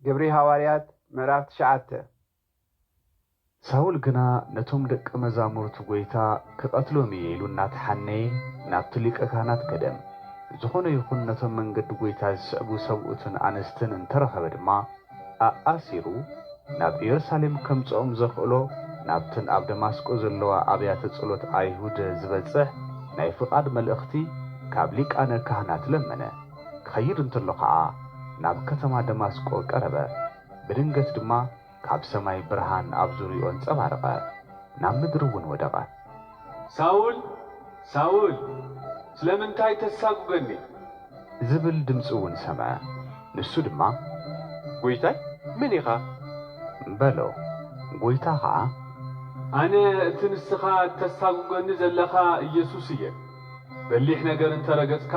ግብሪ ሃዋርያት ምዕራፍ ትሽዓተ። ሳውል ግና ነቶም ደቀ መዛሙርቱ ጐይታ ክቐትሎም እየ ኢሉ እናተሓነየ ናብቲ ሊቀ ካህናት ከደ። ዝኾነ ይኹን ነቶም መንገዲ ጐይታ ዝስዕቡ ሰብኡትን ኣንስትን እንተ ረኸበ ድማ ኣኣሲሩ ናብ ኢየሩሳሌም ከምጽኦም ዘኽእሎ ናብተን ኣብ ደማስቆ ዘለዋ ኣብያተ ጸሎት ኣይሁድ ዝበጽሕ ናይ ፍቓድ መልእኽቲ ካብ ሊቃነ ካህናት ለመነ። ክኸይድ እንተሎ ኸኣ ናብ ከተማ ደማስቆ ቀረበ። ብድንገት ድማ ካብ ሰማይ ብርሃን ኣብ ዙርያኡ ኣንጸባረቐ፣ ናብ ምድሪ እውን ወደቐ። ሳውል! ሳውል! ስለምንታይ ተሳጕገኒ? ዝብል ድምጺ እውን ሰምዐ። ንሱ ድማ። ጐይታይ መን ኢኻ? በሎ። ጐይታ ኸኣ። ኣነ እቲ ንስኻ እተሳጕገኒ ዘለኻ ኢየሱስ እየ። በሊሕ ነገር እንተ ረገጽካ።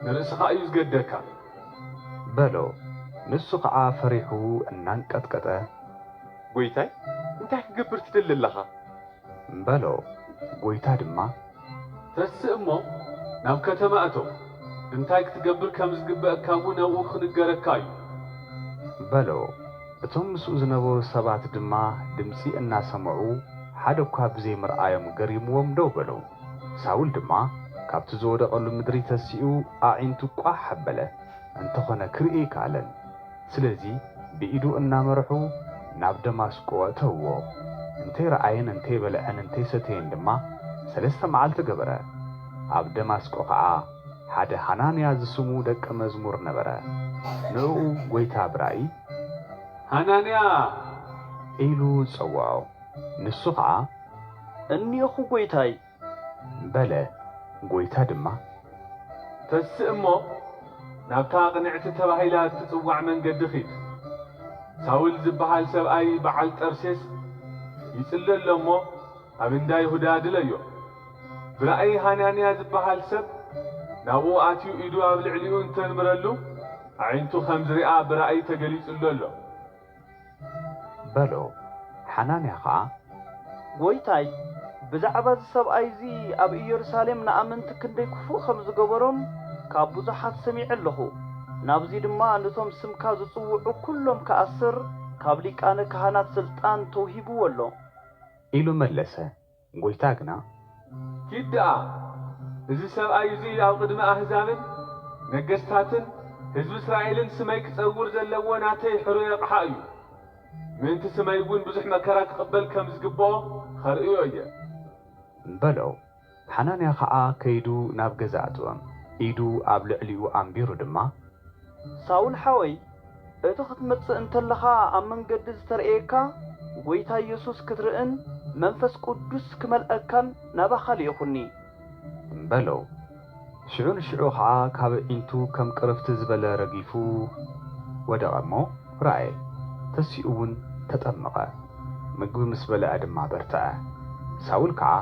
ንርእስኻ እዩ ዝገደካ። በሎ። ንሱ ኸዓ ፈሪሑ እናንቀጥቀጠ። ጐይታይ፣ እንታይ ክገብር ትደሊ ኣለኻ? በሎ። ጐይታ ድማ። ተስእ እሞ ናብ ከተማ እቶ፣ እንታይ ክትገብር ከም ዝግበኣካ እውን ኣብኡ ኽንገረካ እዩ። በሎ። እቶም ምስኡ ዝነበሩ ሰባት ድማ ድምፂ እናሰምዑ ሓደ እኳ ብዘይምርኣዮም ገሪምዎም ደው በሉ። ሳውል ድማ ካብቲ ዝወደቐሉ ምድሪ ተሲኡ ኣዒንቱ ቋሕ ኣበለ፣ እንተዀነ ክርኢ ኣይከኣለን። ስለዚ ብኢዱ እናመርሑ ናብ ደማስቆ ኣእተውዎ። እንተይረኣየን እንተይበልዐን እንተይሰተየን ድማ ሰለስተ መዓልቲ ገበረ። ኣብ ደማስቆ ኸኣ ሓደ ሃናንያ ዝስሙ ደቀ መዝሙር ነበረ። ንእኡ ጐይታ ብራእይ። ሃናንያ! ኢሉ ጸውዖ። ንሱ ኸኣ። እኔኹ ጐይታይ፣ በለ። ጐይታ ድማ። ተስእ እሞ፣ ናብታ ቕንዕቲ ተባሂላ እትጽዋዕ መንገዲ ኺድ። ሳውል ዚብሃል ሰብኣይ ብዓል ጠርሴስ ይጽሊ ኣሎ እሞ፣ ኣብ እንዳ ይሁዳ ድለዮ። ብራእይ ሃናንያ ዚብሃል ሰብ ናብኡ ኣትዩ ኢዱ ኣብ ልዕሊኡ እንተንብረሉ፣ ኣዒንቱ ኸም ዚርኣ ብራእይ ተገሊጹሉ ኣሎ። በሎ። ሓናንያ ኸኣ። ጐይታይ፣ ብዛዕባ እዚ ሰብኣይ እዚ ኣብ ኢየሩሳሌም ንኣመንቲ ክንደይ ክፉእ ከም ዝገበሮም ካብ ብዙሓት ሰሚዐ ኣለኹ። ናብዚ ድማ ነቶም ስምካ ዝጽውዑ ኵሎም ክኣስር ካብ ሊቃነ ካህናት ስልጣን ተውሂብዎ ኣሎ። ኢሉ መለሰ። ጎይታ ግና። ኪድ ደኣ፣ እዚ ሰብኣይ እዙይ ኣብ ቕድሚ ኣህዛብን ነገሥታትን ሕዝቢ እስራኤልን ስመይ ክጸውር ዘለዎ ናተይ ሕሩይ ኣቕሓ እዩ፣ ምእንቲ ስመይውን ብዙሕ መከራ ክቕበል ከም ዝግብኦ ኸርእዮ እየ። በሎ። ሓናንያ ኸዓ ከይዱ ናብ ገዛ ኣእተወ፣ ኢዱ ኣብ ልዕሊኡ ኣንቢሩ ድማ። ሳውል ሓወይ፣ እቲ ክትመጽእ እንተለኻ ኣብ መንገዲ ዝተርእየካ ጎይታ የሱስ ክትርእን መንፈስ ቅዱስ ክመልኣካን ናባኻ ልኢኹኒ። በሎ። ሽዑ ንሽዑ ኸኣ ካብ ኣዒንቱ ከም ቅርፍት ዝበለ ረጊፉ ወደቐ እሞ ረኣየ፣ ተሲኡውን ተጠምቐ፣ ምግቢ ምስ በልዐ ድማ በርትዐ። ሳውል ከኣ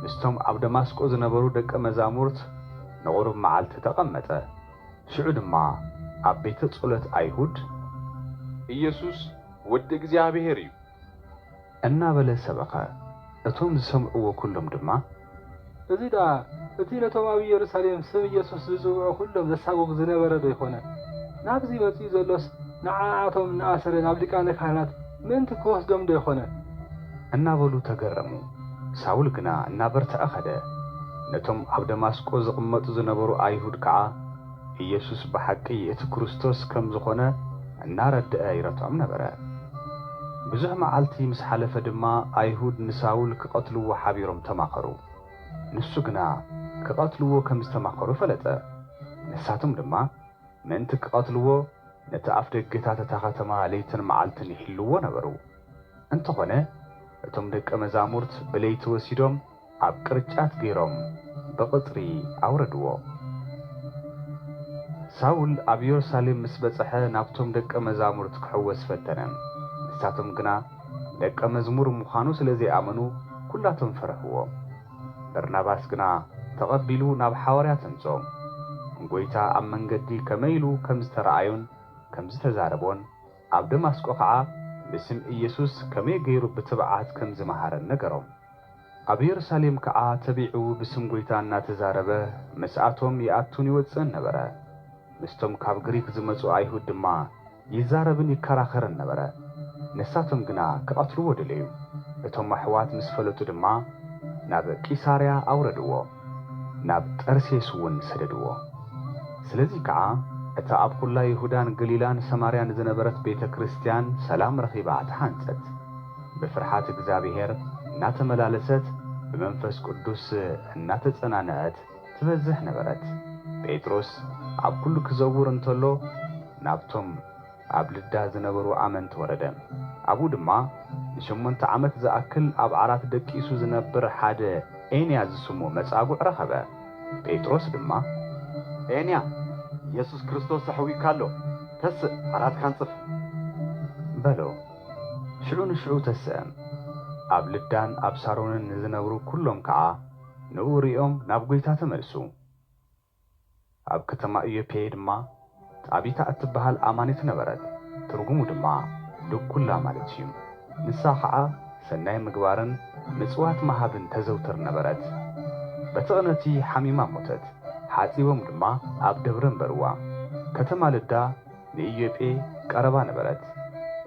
ምስቶም ኣብ ደማስቆ ዝነበሩ ደቀ መዛሙርት ንቑሩብ መዓልቲ ተቐመጠ። ሽዑ ድማ ኣብ ቤተ ጸሎት ኣይሁድ። ኢየሱስ ወዲ እግዚኣብሔር እዩ። እናበለ ሰበኸ። እቶም ዝሰምዕዎ ኵሎም ድማ። እዚ ደኣ እቲ ነቶም ኣብ ኢየሩሳሌም ስም ኢየሱስ ዝጽውዑ ዅሎም ዘሳጕግ ዝነበረ ዶ ኣይኰነን? ናብዚ መጺኡ ዘሎስ ንዓኣቶም እናኣሰረ ናብ ሊቃነ ካህናት። ምእንቲ ኪወስዶም ዶ ኣይኮነን? እናበሉ ተገረሙ። ሳውል ግና እናበርትዐ ኸደ። ነቶም ኣብ ደማስቆ ዚቕመጡ ዝነበሩ ኣይሁድ ከኣ፣ ኢየሱስ ብሓቂ እቲ ክርስቶስ ከም ዝኾነ እናረድአ ይረትዖም ነበረ። ብዙሕ መዓልቲ ምስ ሓለፈ ድማ፣ ኣይሁድ ንሳውል ኪቐትልዎ ሓቢሮም ተማኸሩ። ንሱ ግና ኪቐትልዎ ከም ዝተማኸሩ ፈለጠ። ንሳቶም ድማ፣ ምእንቲ ኪቐትልዎ፣ ነቲ ኣፍ ደገታት እታ ኸተማ ለይትን መዓልትን ይሕልዉዎ ነበሩ። እንተዀነ፣ እቶም ደቀ መዛሙርት ብለይቲ ወሲዶም ኣብ ቅርጫት ገይሮም ብቕጽሪ ኣውረድዎ። ሳውል ኣብ የሩሳሌም ምስ በጽሐ፣ ናብቶም ደቀ መዛሙርት ኪሕወስ ፈተነ። ንሳቶም ግና ደቀ መዝሙር ምዃኑ ስለ ዘይኣመኑ፣ ኵላቶም ፈርሕዎ። በርናባስ ግና ተቐቢሉ ናብ ሓዋርያት ኣምጽኦም። ንጐይታ ኣብ መንገዲ ከመይ ኢሉ ከም ዝተረኣዮን ከም ዝተዛረቦን፣ ኣብ ደማስቆ ኸዓ ብስም ኢየሱስ ከመይ ገይሩ ብትብዓት ከም ዝመሃረን ነገሮም። ኣብ የሩሳሌም ከኣ ተቢዑ ብስም ጐይታ እናተዛረበ ምስኣቶም ይኣቱን ይወጽእን ነበረ። ምስቶም ካብ ግሪክ ዝመጹ ኣይሁድ ድማ ይዛረብን ይከራኸርን ነበረ። ንሳቶም ግና ክቐትልዎ ደለዩ። እቶም ኣሕዋት ምስ ፈለጡ ድማ ናብ ቂሳርያ ኣውረድዎ፣ ናብ ጠርሴስውን ሰደድዎ። ስለዚ ከኣ እታ ኣብ ኵላ ይሁዳን ገሊላን ሰማርያን ዝነበረት ቤተ ክርስትያን ሰላም ረኺባ ተሓንጸት፣ ብፍርሓት እግዚኣብሔር እናተመላለሰት ብመንፈስ ቅዱስ እናተጸናንዐት ትበዝሕ ነበረት። ጴጥሮስ ኣብ ኵሉ ኪዘውር እንተሎ፣ ናብቶም ኣብ ልዳ ዝነበሩ ኣመንቲ ወረደ። ኣብኡ ድማ ንሸሞንተ ዓመት ዝኣክል ኣብ ዓራት ደቂሱ ዝነብር ሓደ ኤንያ ዝስሙ መጻጉዕ ረኸበ። ጴጥሮስ ድማ። ኤንያ፣ የሱስ ክርስቶስ ኣሕውዩካ ኣሎ፣ ተስእ፣ ዓራትካ ኣንጽፍ። በሎ። ሽዑ ንሽዑ ተስአ። ኣብ ልዳን ኣብ ሳሮንን ንዝነብሩ ኵሎም ከኣ። ንእኡ ርእዮም ናብ ጐይታ ተመልሱ። ኣብ ከተማ ኢዮጴ ድማ ጣቢታ እትበሃል ኣማኒት ነበረት፣ ትርጉሙ ድማ ድኵላ ማለት እዩ። ንሳ ኸኣ ሰናይ ምግባርን ምጽዋት ምሃብን ተዘውትር ነበረት። በቲ ቕንእቲ ሓሚማ ሞተት፣ ሓጺቦም ድማ ኣብ ደብሪ ኣንበርዋ። ከተማ ልዳ። ንኢዮጴ ቀረባ ነበረት።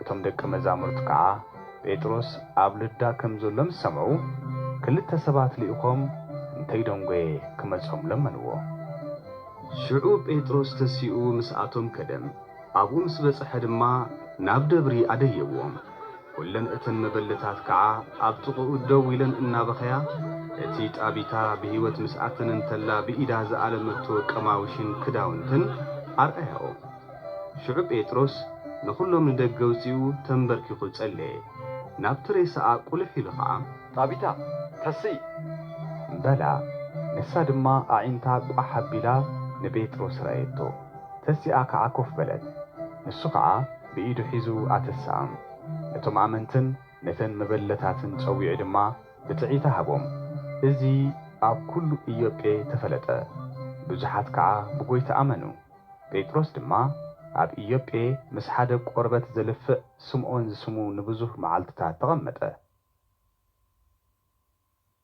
እቶም ደቀ መዛሙርቱ ከኣ ጴጥሮስ ኣብ ልዳ ከም ዘሎ ምስ ሰምዑ፣ ክልተ ሰባት ልኢኾም እንተይደንጐየ ክመጾም ለመንዎ። ሽዑ ጴጥሮስ ተሲኡ ምስኣቶም ከደ፣ ኣብኡ ምስ በጽሐ ድማ ናብ ደብሪ ኣደየዎም። ኩለን እተን መበለታት ከኣ ኣብ ጥቕኡ ደው ኢለን እናበኸያ፣ እቲ ጣቢታ ብህይወት ምስ ኣተነ እንተላ ብኢዳ ዝኣለመቶ ቀማውሽን ክዳውንትን ኣርኣያኦ። ሽዑ ጴጥሮስ ንኹሎም ንደገ ኣውጺኡ ተምበርኪኹ ጸለየ። ናብቲ ሬሳኣ ቁልሕ ኢሉ ከኣ። ጣቢታ፣ ተስኢ! በላ። ንሳ ድማ ኣዒንታ ቋሕ ኣቢላ ንጴጥሮስ ረኣየቶ። ተሲኣ ከኣ ኮፍ በለት። ንሱ ከኣ። ብኢዱ ሒዙ ኣተስኣም። ነቶም ኣመንትን ነተን መበለታትን ጸዊዑ ድማ ብጽዒታ ሃቦም። እዚ ኣብ ኩሉ ኢዮጴ ተፈለጠ። ብዙሓት ከኣ ብጎይታ ኣመኑ። ጴጥሮስ ድማ ኣብ ኢዮጴ ምስ ሓደ ቆርበት ዘልፍዕ ስምኦን ዝስሙ ንብዙህ መዓልትታት ተቐመጠ።